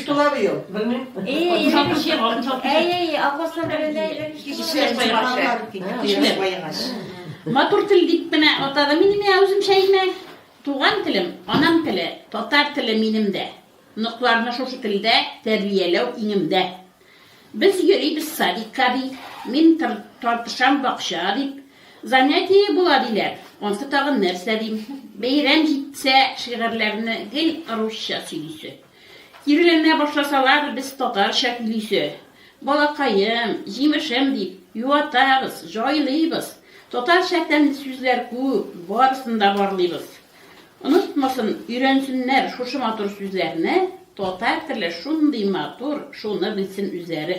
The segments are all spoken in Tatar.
Тула быел, белмим. Әй-әй-әй, апасына бирелә иде. Кешеләр баегач. Кешеләр баегач. Матур тел дип кенә атады мине мә үзем шәймә. Туган телем, анам теле, татар теле минем дә. Нокларны шушы телдә тәрбияләү иңемдә. Без йөрибез садикка ди, мин тартышам бакча дип. Занятие була диләр, ансы тагын нәрсә дим. Бәйрәм җитсә, шигырьләрне гел русча сөйлисе. Киреләнә башласалар, без татарча көйлисе, балакаем, җимешем дип, юатабыз, җайлыйбыз. Татарча тәмле сүзләр күп, барысын да барлыйбыз. Онытмасын, өйрәнсеннәр шушы матур сүзләрне, татар теле шундый матур, шуны белсен үзләре.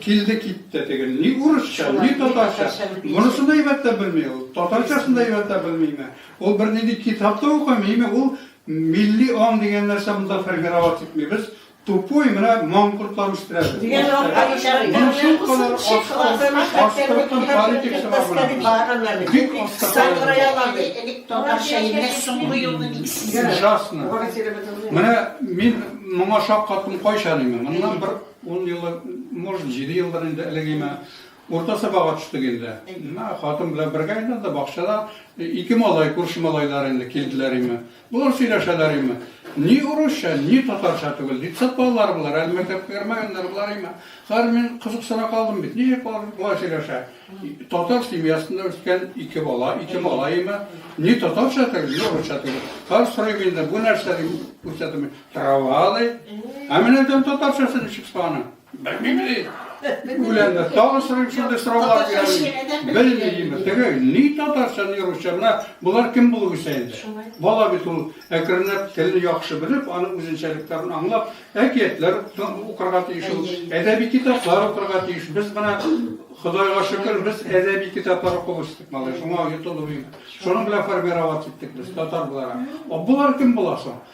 Килде китте теге. Ни урысча, ни татарча. Монысын да әйбәтләп белми ул. Татарчасын да әйбәтләп белмиме? Ул бер нинди китап та укымыймы? Ул милли аң дигән нәрсә монда формировать итмибез. Тупой менә маңкортлар үстерәбез. Дигән Менә мин моңа шаккаттым кайчан инде. Моннан бер Ун еллар, может, җиде еллар инде элек име, урта сабага төштек инде. Менә хатын белән бергә инде анда бакчада ике малай, күрше малайлар инде килделәр име. Болар сөйләшәләр име. Ни урысча, ни татарча түгел. Детсад балалары болар, әле мәктәпкә кергәннәр болар име. Хәзер мин кызыксына калдым бит. Ничек болар болай сөйләшә? Татар семьясында үскән ике бала, ике малай име. Ни татарча түгел, ни урысча түгел. Хәзер сорыйм инде, бу нәрсә дип күрсәтәм. Травалы. Ә менә дәм татарчасы ничек саны? Белмим ди. Үләнне тагы сорыйм шундый сораулар бирәм. Белмим. Теге ни татарча, ни русча. Менә булар кем булып үсә инде? Бала бит ул әкренләп телне яхшы белеп, аның үзенчәлекләрен аңлап, әкиятләр укырга тиеш ул. Әдәби китаплар укырга тиеш. Без менә Худайга шөкер, без әдәби китаплар укып үстек, малай. Шуңа йотылып. Шуның белән формировать иттек без татар буларак. Булар кем була соң?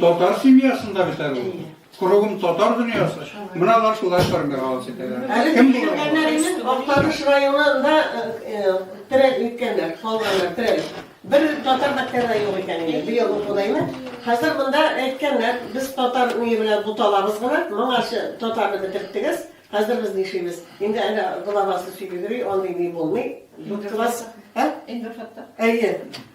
Татар семьясында бит әле ул. Кругом татар дөньясы. Менә алар шулай формига алып китәләр. Әле Кем булыр? килгәннәренең Актаныш районында э, э, терәк иткәннәр, калганнар терәк. Бер татар мәктәбе дә юк икән инде, быел укудаймы. Хәзер монда әйткәннәр, без татар ние белән буталабыз гына, моңарчы татарны бетерттегез, хәзер без нишибез. Инде әле главасы сөйләп йөри, андый ни булмый. Дүрт класс, ә? Инде хәтта. Әйе.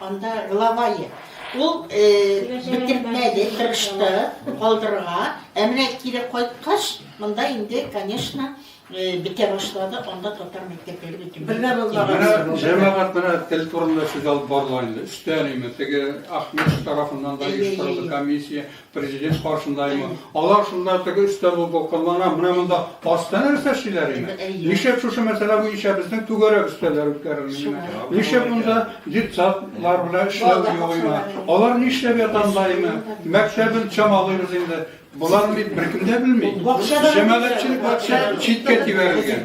Анда главае. Ул бетермәде, тырышты калдырырга. Ә менә кире кайткач, монда инде, конечно, бетә башлады, анда татар мәктәпләре бөтен. Бергә булмаган. Җәмәгать менә тел турында сүз алып барыла инде. Өстән име, теге Ахмеш тарафыннан да оештырылды комиссия. Президент каршында имы? Алар шунда теге өстәл булып вакытлана, менә монда аста нәрсә эшлиләр име? Ничек шушы мәсьәлә буенча безнең түгәрәк өстәлләр үткәрелми? Ничек монда детсадлар белән эшләү юк име? Алар нишләп ята монда име? Мәктәбен чамалыйбыз инде. Болар бит беркем дә белми. Җәмәгатьчелек бакча читкә тибәрелгән.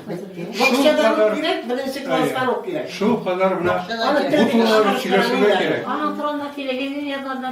Бакчада ук кирәк, беренче класска ук кирәк. Шул кадәр менә бу турыда сөйләшергә кирәк. Аның турында телевидение язганда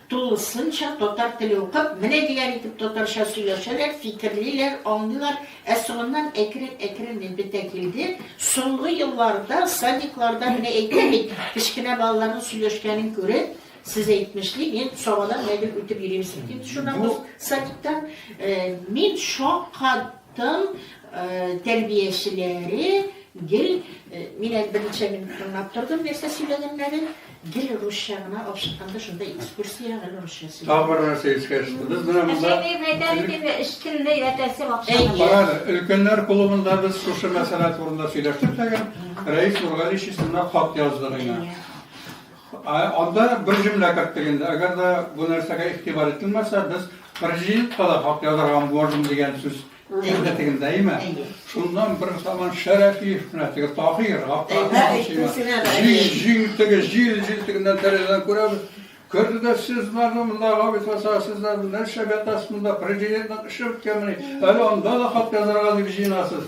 Тулысынча татар теле укып, менә ниләр итеп татарча сөйләшәләр, фикерлиләр, аңлыйлар. Ә соңыннан әкрен-әкрен гел бетә килде. Соңгы елларда садикларда менә әйтәм бит, кечкенә балаларның сөйләшкәнен күреп, сез әйтмешли, мин Сабадан гел үтеп йөрим, син инде шуннан соң садиктан, мин шаккат Тын тәрбиячеләре гел, мин әле берничә минут тыңлап тордым нәрсә сөйләгәннәрен, гел русча гына алып чыкканда шунда экскурсия гел русча сөйләде. Тагы бер нәрсә искә төште. Без менә монда Карагыз, өлкәннәр клубында без шушы мәсьәлә турында сөйләштек тәгәр, Рәис Нургалиевич исеменә хат яздык инде. Анда бер җөмлә керттек инде. Әгәр дә бу нәрсәгә игътибар ителмәсә, без президентка да хат язарга можем дигән сүз кертик инде, әйеме? Шуннан бер заман Шәрәфиев менә теге Таһир, җил теге, җил, җил тегеннән тәрәзәдән күрәбез. Керде дә, сез бармы монда, Габит Гаса, сезләр нәрсә ятасыз монда, президентның эше беткәнмени? Әле анда да хат язарга дип җыенасыз.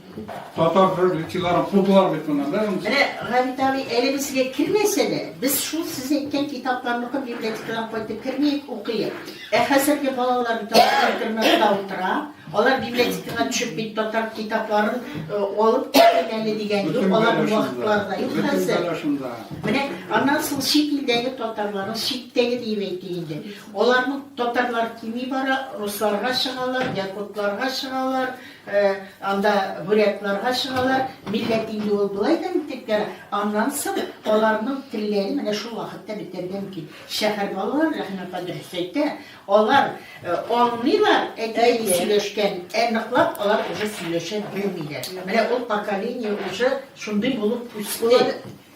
Татар хөрмәтчеләрен кудылар бит моннан, да? Менә Габит абый әле безгә кермәсә дә, без шул сез әйткән китапларны укып библиотекадан кайтып кермиек, укыйк. Ә хәзерге балалар бит алар интернетта утыра, алар библиотекага төшеп бит татар китапларын э, алып китмим әле дигән юк, Бөтен алар бәлә шунда. вакытлары да юк Бөтен хәзер. бәлә шунда. Менә аннан соң чит илдәге татарларны читтәге диеп әйтик инде. Аларның татарлар кими бара, русларга чыгалар, якутларга чыгалар, Анда бурятларга чыгалар, милләт инде ул болай да бик тә, аннан соң аларның телләре менә шул вакытта бетәргә мөмкин. Шәһәр балалары, Рәхим апа дөрес әйтә, алар аңлыйлар әти-әни сөйләшкән, ә ныклап алар уже сөйләшә белмиләр. Менә ул поколение уже шундый булып үсте.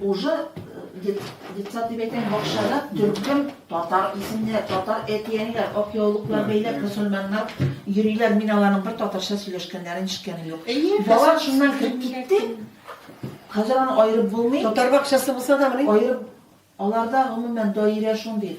Уже детсад дип әйтәм, бакчада төркем татар исемнәр, татар әти-әниләр, ак яулыклар бәйләп, мөселманнар йөриләр. Мин аларның бер татарча сөйләшкәннәрен ишеткәнем юк. Бала шуннан кереп китте. Хәзер аны аерып булмый. Татар бакчасы булса да, менә аерып аларда гомумән даирә шундый.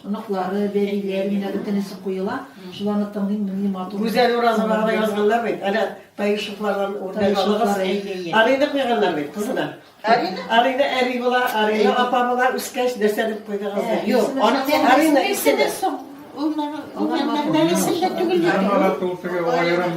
Оныклары, бәбиләре менә бөтенесе куела. Шул аны тыңлыйм, менли матур. Гүзәл Уразова гына язганнар бит. Әнә Таишевлардан үрнәк алыгыз. Арина куйганнар бит кызына. Арина? Арина әби була, Арина апа була, үскәч нәрсә дип куйдыгыз? Э, Юк, аның дигән Арина исеме. Ул мәгънәле исем дә түгел. Һәм алар тултыгы аерым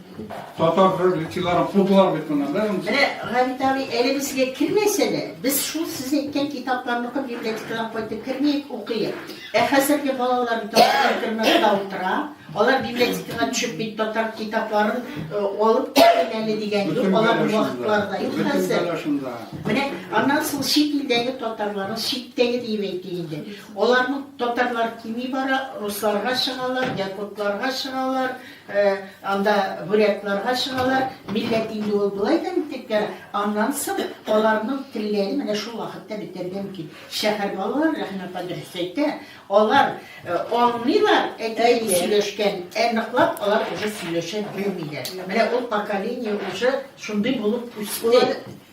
Татар религияләрен кудылар бит моннан, да? Менә Габит абый, әле безгә кермәсә дә, без шул сез әйткән китапларны укып библиотекадан кайтып кермиек, укыйк. Ә хәзерге балалар бит интернетта утыра, алар библиотекага төшеп бит татар китапларын э, алып китмим әле дигән юк, алар вакытлары да юк хәзер. Менә аннан соң чит илдәге татарларны читтәге диеп әйтик инде. Аларның татарлар кими бара, русларга чыгалар, якутларга чыгалар, Анда бурятларга чыгалар, милләт инде ул болай да бетеп бара. Аннан соң аларның телләре менә шул вакытта бетәргә мөмкин. Шәһәр балалары, Рәхимә апа дөрес әйтә, алар аңлыйлар әти-әни сөйләшкән, ә ныклап алар уже сөйләшә белмиләр. Менә ул поколение уже шундый булып үсте.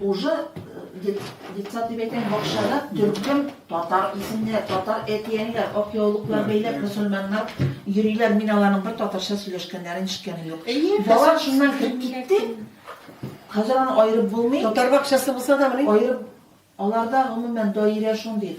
Уже детсад дип әйтәм, бакчада төркем татар исемнәр, татар әтиәниләр, ак яулыклар бәйләп, мөселманнар йөриләр. Мин аларның бер татарча сөйләшкәннәрен ишеткәнем юк. Бала шуннан кереп китте. Хәзер аны аерып булмый. Татар бакчасы булса да, менә аерып аларда гомумән даирә шундый.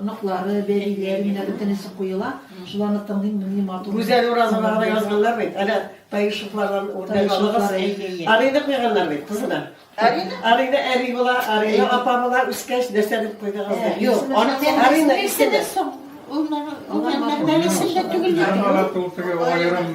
Оныклары, бәбиләре менә бөтенесе куела. Шул аны тыңлыйм, менли матур. Гүзәл Уразова гына язганнар бит. Әнә Таишевлардан үрнәк алыгыз. Арыйны куйганнар бит кызына. Арина? Арина әби була, Арина апа була, үскәч нәрсә дип куйдыгыз? Э, Юк, аны Арина исеме. Ул мәгәр исемдә түгел. Ул мәгәр исемдә түгел.